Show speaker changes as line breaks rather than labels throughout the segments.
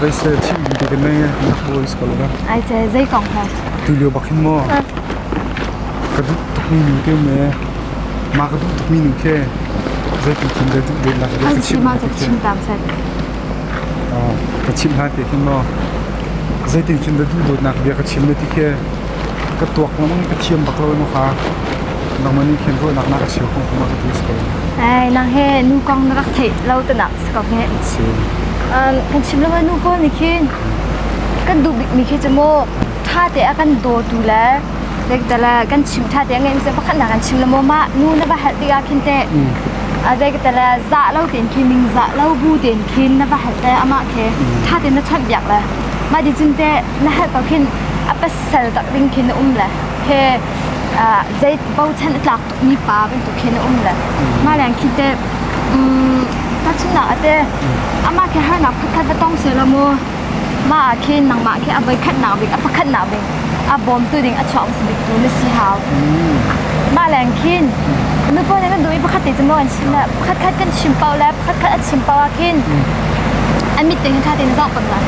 Veisel thihri te te mei na hawi ka lo ga. Ai che zei kong ho. Tu lio bak hin maw. Ka duh tukmi nu te me. Ma ka duh tukmi nu khe. Zei tu thim de duh de la de. An chim ma ka chim tam set. Ah ka chim la te hin maw. Zei tin chin da duh dot nak bia ka chim le ti khe. Ka tuak lamang ka thiam bak lo no kha. Nang mani khen ro nak na ka siu kong kuma ka tu is ko. Ai nang he nu kong na rak thei lo te nak. ka nge kan chim lo nu ko ni khin kan duh bik mi khi chu mo tha te a kan do tu le lek dala kan chim tha te nge se pakhat na kan chim lo ma nu na va hal tiga khin te a dek dala za lo ten khi ning za lo bu ten khin na va hal te ama khe tha te na chon biak le ma di jun te na hal ko khin a pasal tak ding khin um le he zai bau chan tlak mipa bantuk khin a um le mah leng khi te tahchunnak ate amah khi harnak pakhat va tong seh la mu mah ah khin nangmah khi a voikhatnak bik a pakhatnak bik a bawmtu ding a chuak bik tu na si hau mah leng khin nu pawl nih na duh i pakhat te cun an chim le pakhat khat kan chim pau le pakhat khat a chim pau ah khin an mit te hin tha te na zau pang la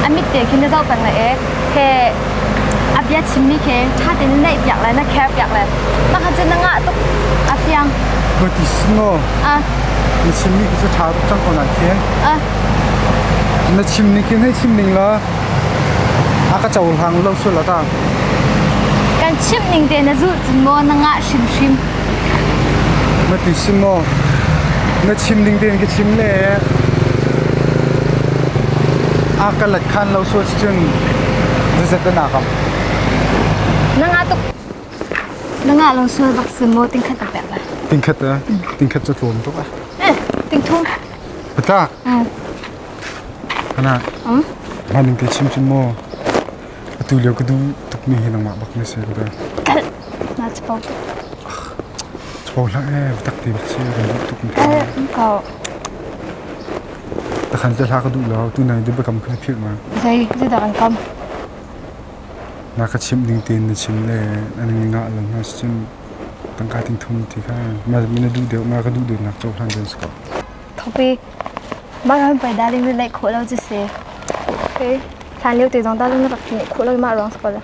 an mit te khin na zau pang la ek he a bia chimmi khi ṭha tein naihpiak le na kherpiak le pakhat cu na ngah tuk a fiang. Ka ti singaw. A. Na chimmi khi cu ṭha tuk cang ko nain A. Na chimning khi hei chim ning la a ka cohlang lo sual a tang. Kan chimh ning te na zulh cun maw na ngah hrimhrim. Na ti sim maw. Na chimning tein ka chim le a ka let khan lo sual cun zazet na nakam na nga tuk na nga lo sual bak si mo ting khat pe ba ting khat ting khat chu tlom tuk ah eh ting thum bata hana maning te chim chin mo atu leo ka du tuk mi hi nang ma bak me se ka da kal na chpo chpo la eh tak ti bak si ka du tuk mi ko Takhan cu hla ka duh lo. Tunang dubakam kha na philh ma? Zei zeidah kan kam? Na ka chimh ning tein na chim le an ngah lo hna sicun tangka tingthum ti kha na duh deuh nga ka duh deuhnak cohlan deuh a si ko. Thopi, mah ram pei dah ding na naih khawh lo cu si. Okay. Hlan lio te zong ta cun na rak nih khawh lo i mah ruang sakal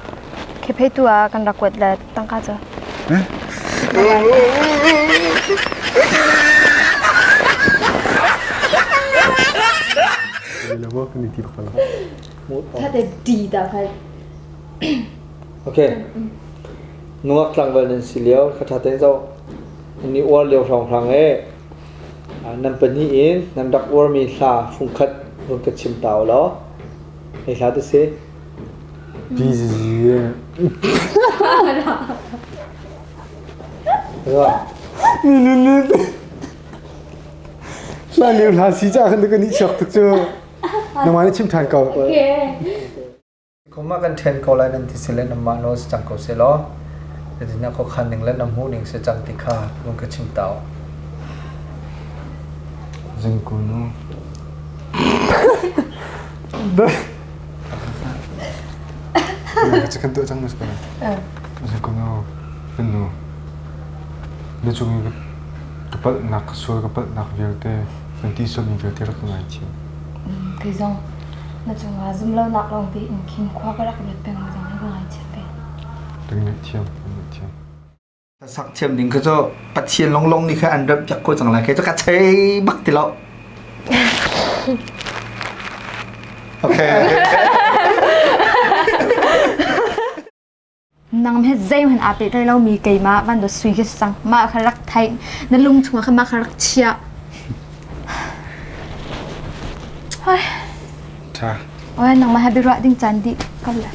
khephei tu ah kan rak kuat le tangka cu. Tate di da khai. Okay. Nungak tlangval nan si lio kha thaten zo ni uar lio hrang hrang e Nan pahnih in nan rak uarmi hla fungkhat vun ka chim ta u law hi hla ti si. Hla leu hla si caah khan kan i chuak tuk cu. Nangmah nih chim ṭhan ko. Okay. Kum ah kan ṭhen ko lai nan ti sile nanmah nawl si cang ko seh law zeitindah khuakhan ning le na hmuh ning si cang ti kha vun ka chim ta u. Zingkunu. Chicken tu cang mas kana. Zingkunu. Finu. Ni chung i kapal nak sual kapal nak vialte kan ti sami vialte rak ngai thi. Kai zong. Na cungah zumlonak lawng tein khin khua ka rak luat peng zong na ka ngaichiat ve. Kan ngaihthiam, kan ngaihthiam. Sakthiam ding kha cu Pathian lawnglawng nih kha an remh piak ko cang lai kei cu ka thei bak ti lo. Okay. okay. Nang met zeihman aa pehtlai lomi keimah van dawt sui khi sang. Mah kha rak theih. Na lung chungah khan mah kha rak chiah. Hoi. Tha. Oi nangmah ha biruah ding caan dih. Kau lah.